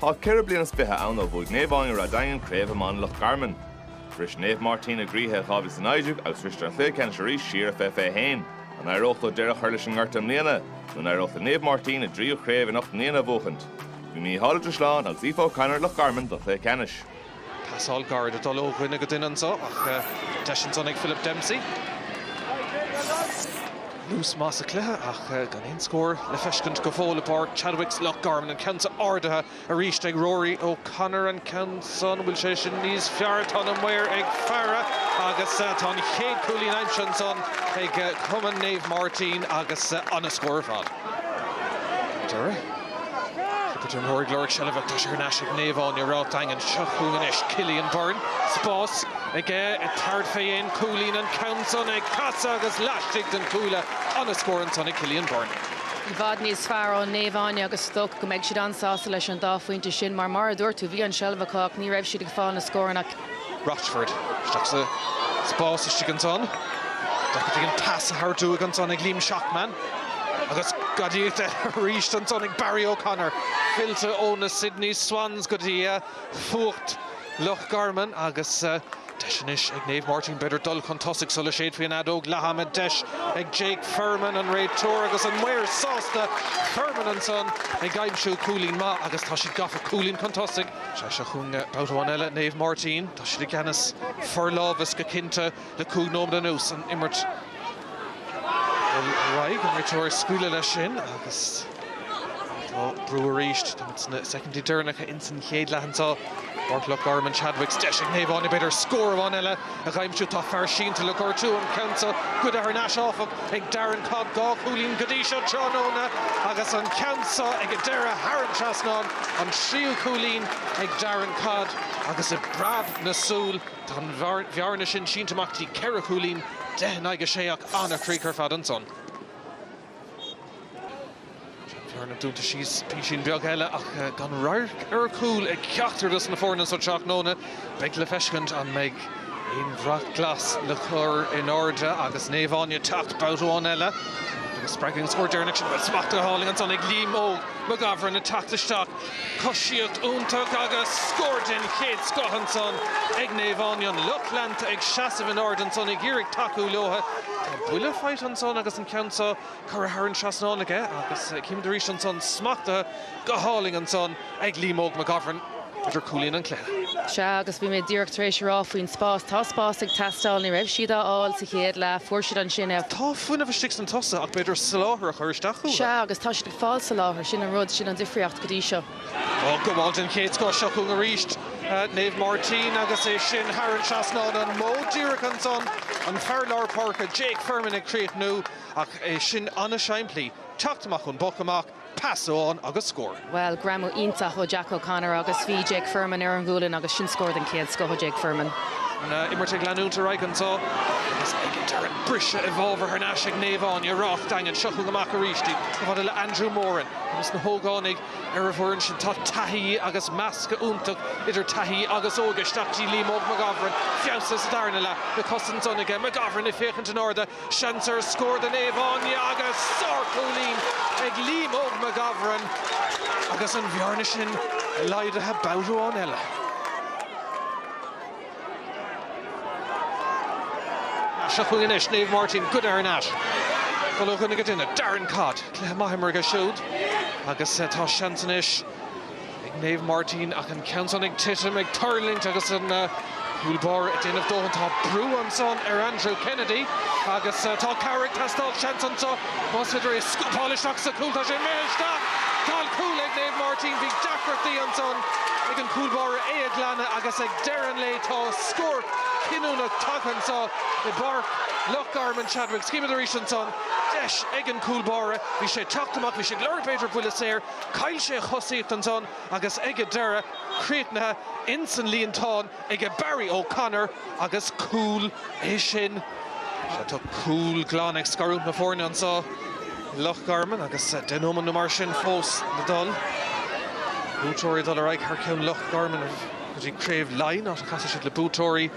Tá ceithre bliain is fiche ann ó bhuaigh Naomh Áine Ráth Daingin Craobh Iomána Loch Garman. Bhris Naomh Máirtín a gcroíthe i 2019 agus bhriseadar sa chluiche ceannais arís siar i 2021. An éireoidh leo deireadh a chur leis an ngorta i mbliana? Nó an éireoidh le Naomh Máirtín a dtríú craobh in ocht mbliana a bhuachaint? Bhí Mícheál Ó Drisleáin agus Aoife O'Connor i Loch Garman, don chluiche ceannais. Pasáil gairid ag dul ó dhuine go duine anso ach deis ansan ag Philip Dempsey. Luas maith sa cluiche ach gan aon scór le feiscint go fóill i bPáirc Chadwicks, Loch Garman. An ceann seo ardaithe arís ag Rory O Connor. An ceann san, an bhfuil sé sin níos fearr? Tá na maoir ag faire agus tá an chéad cúilín aimsithe ansan ag Cumann Naomh Máirtín agus an-scór ar fad. Chinnte Jim Horry ag lorg seilbhe ach tá sé thar n-ais ag Naomh Áine Ráth Daingin. Seo chugainn anois Cillian Byrne. Spás aige ag tabhairt fé cúilín. An ceann san ag casadh agus laistigh den chuaille. An-scór ansan ag Cillian Byrne. I bhfad níos fearr ó Naomh Áine agus is dócha go mbeidh siad an-sásta leis an dá phointe sin mar, mar a dúirt tú, bhí an seilbh acu ach ní raibh siad ag fáil na scóranna. Rochford. Isteach sa spás istigh ansan. Dá chuid an pas a thabhairt uaidh ansan ag Liam Shacman. Agus gadaíocht eile arís ansan ag Barry O'Connor. Fillte ó na Sydney Swans go dtí fuacht Loch Garman agus deis anois ag Naomh Máirtín b'fhéidir dul chun tosaigh sula séidfear an fheadóg leathama. An deis ag Jake Firman, an réiteoir agus an maor sásta. Firman ansan ag aimsiú cúilín maith agus tá siad gafa cúilín chun tosaigh. Seo chugainn babhta amháin eile, Naomh Máirtín. Tá siad i gceannas, forlámhas go cinnte le cúig nóiméad anuas. An imirt ar aghaidh, an réiteoir ag scaoileadh leis sin agus tá brú arís. Táimid sna soicindí deireanacha ins an chéad leath anseo i bPáirc Loch Garman, Chadwicks. Deis ag Naomh Áine, b'fhéidir scór amháin eile. A aimsiú, tá fear sínte le gortú an ceann so goidte thar n-ais áfach ag Darren Codd dhá chúilín go dtí seo tráthnóna agus an ceann so ag a deireadh thar an trasnán an tríú cúilín ag Darren Codd agus i bpreab na súl tá an bhearna sin sínte amach go dtí ceithre chúilín deich in aghaidh a sé ach an-chríoch ar fad ansan. Bearna dúnta síos písín beag eile ach gan radharc ar chúl ag ceachtar dos na foirne so tráthnóna. Beidh le feiscint an mbeidh aon bhrat glas le cur in airde agus Naomh Áine ag teacht babhta amháin eile. Agus spreagadh ón scór deireanach sin, bhuel, smachtaithe go hálainn ansan ag Liam Óg McGovern ag teacht isteach. Coisíocht iontach agus scór den chéad scoth ansan ag Naomh Áine. An lucht leanta ag seasamh in airde ansan ag iarraidh tacú leotha. Tá buille faighte ansan agus an ceann seo curtha thar an trasnán aige agus címid arís ansan smachtaithe go hálainn ansan ag Liam Óg McGovern b'fhéidir cúilín an chluiche. Sea agus bhí mé díreach tar éis a rá faoin spás, tá spás ag teastáil, ní raibh siad á fháil sa chéad leath, fuair siad ansin é. Tá fuinneamh istigh sna tosaithe ach b'fhéidir soláthar a chur isteach uatha. Sea agus tá siad fáil sa láthair. Sin an rud, sin an difríocht go dtí seo. Gabháil den chéad scoth seo chugainn arís Naomh Máirtín agus é sin thar an trasnán, an modh díreach ansan, an fear lár páirce Jake Firman ag críochnú ach é sin an-simplí, teacht amach ón bpoc amach, pas amháin agus scór. Bhuel, greamú iontach ó Jack O'Connor agus bhí Jake Firman ar an ghualainn agus sin scór den chéad scoth ó Jake Firman. Tá an imirt ag leanúint ar aghaidh anso agus ag deireadh briseadh i bhfabhar thar n-ais ag Naomh Áine, Ráth Daingin. Seo chugainn amach arís í. Chomh fada le Andrew Moran agus na hógánaigh ar an bhfoireann sin. Tá taithí agus meascadh iontach idir taithí agus óige. Isteach dtí Liam Óg McGovern. Feabhas sa darna leath. Na cosa ansan aige. McGovern ag féachaint in airde. Seans ar scór do Naomh Áine agus sár chúilín ag Liam Óg McGovern agus an bhearna sin laghdaithe babhta amháin eile. Seo chugainn anois, Naomh Máirtín, Codd thar n-ais. Go luath ó dhuine go duine, Darren Codd. Cluiche maith imeartha aige siúd agus tá seans anois ag Naomh Máirtín ach an ceann san ag titim, ag tuirlingt agus an cúl báire ag déanamh dóthain. Tá brú ansan ar Andrew Kennedy agus tá cabhair ag teastáil, seans anso. Más féidir é a scúpáil isteach sa chúl, tá sé imithe isteach! Tá cúl ag Naomh Máirtín. Bhí deacrachtaí ansan ag an chúl báire é a ghlanadh agus ag deireadh an lae tá scór cinniúnach tagtha anso i bPáirc Loch Garman. Sea, chímid arís ansan. Deis ag an chúl báire. Bhí sé ag teacht amach, bhí sé ag lorg b'fhéidir buille saor. Chaill sé a chosaíocht ansan agus ag an deireadh, críochnaithe ins an líontán. aige Barry O'Connor agus cúl é sin. Sea, tá cúl glan ag scarúint na foirne annso i Loch Garman agus deich nóimead nó mar sin fós le dul. Buaiteoirí ag dul ar aghaidh thar ceann Loch Garman go dtí Craobh Laighin áit a casfaidh siad le buaiteoirí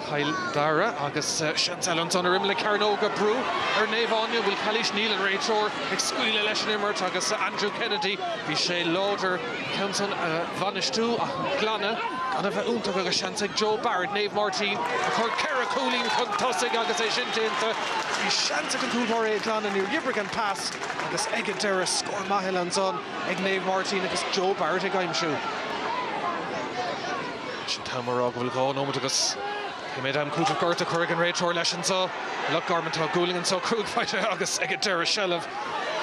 Chill Dara agus seans eile annso ar imeall na cearnóige brú ar Naomh Áine bhfuil calaois níl an réiteoir ag scaoileadh leis an imirt agus Andrew Kennedy bhí sé láidir. ceann san a bhainistiú ach an glanadh gan a bheith iontach agus seans ag Joe Barrett, Naomh Máirtín, a chur ceithre chúilín chun tosaigh agus é sin déanta. Bhí seans ag an gcúlbáire é a ghlanadh, níor oibrigh an pas agus ag an deireadh scór maith eile ansan ag Naomh Máirtín agus Joe Barrett ag aimsiú. Sin an t-am ag rá go bhfuil dhá nóimeat agus. Pé méid am cúitimh gortaithe a chuirfidh an réiteoir leis annso. I Loch Garman tá gualainn annso cúig phointe agus ag an deireadh seilbh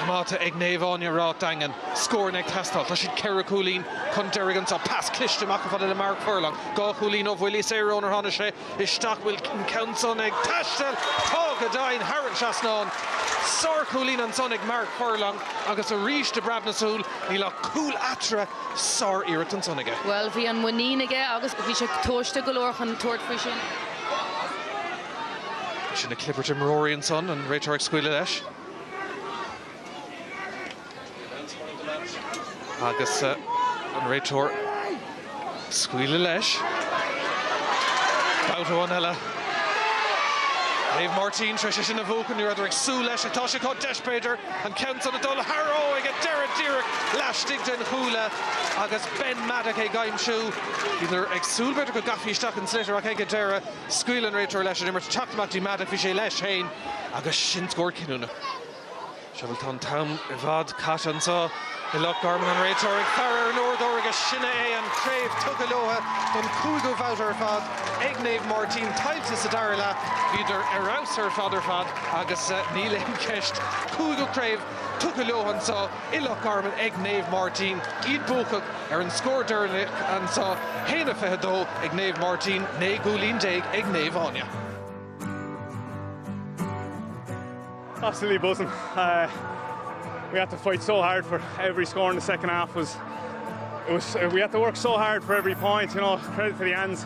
coimeádta ag Naomh Áine, Ráth Daingin. Scóranna ag teastáil. Tá siad ceithre chúilín chun deiridh annso. Pas cliste amach chomh fada le Mark Furlong. Dhá chúilín ó bhuillí saora ónar tháinig sé isteach. Bhfuil an ceann san ag taisteal? Tá go deimhin! Thar an trasnán. Sár chúilín ansan ag Mark Furlong agus arís de phreab na súl níl ach cúl eatarthu. sár-iarracht ansan aige. Bhuel, bhí an muinín aige agus bhí sé tomhaiste go leor chun tabhairt faoi sin. Sin na clibirte imreoirí ansan, an réiteoir ag scaoileadh leis. Agus an réiteoir ag scaoileadh leis. Babhta amháin eile. Naomh Máirtín tar éis é sin a bhuachan. Ní rabhdar ag súil leis ach tá sé acu, deis, b'fhéidir, An ceann san ag dul thar, ó, ag an deireadh díreach laistigh den chuaille agus Ben Maddock ag aimsiú. Bhíodar ag súil b'fhéidir go gcaithfí isteach an sliotar ach ag an deireadh scaoil an réiteoir leis an imirt. Teacht amach dtí Maddock, bhí sé leis féin agus sin scór cinniúnach. Sea, bhuel tá an t-am i bhfad caite anso i Loch Garman. An réiteoir ag faire ar an uaireadóir agus sin é é, an chraobh tugtha leotha don cúigiú bhabhta ar fad ag Naomh Máirtín. Tuillte sa dara leath, bhíodar ar fheabhas ar fad ar fad. Agus níl aon cheist. Cúigiú craobh tugtha leo anso i Loch Garman ag Naomh Máirtín, iad buacach ar an scór deireanach anso fhéin, 22 ag Naomh Máirtín, naoi gcúilín déag ag Naomh Áine. Absolutely buzzing. We had to fight so hard for every score in the second half was it was we had to work so hard for every point you know credit to the Anne's.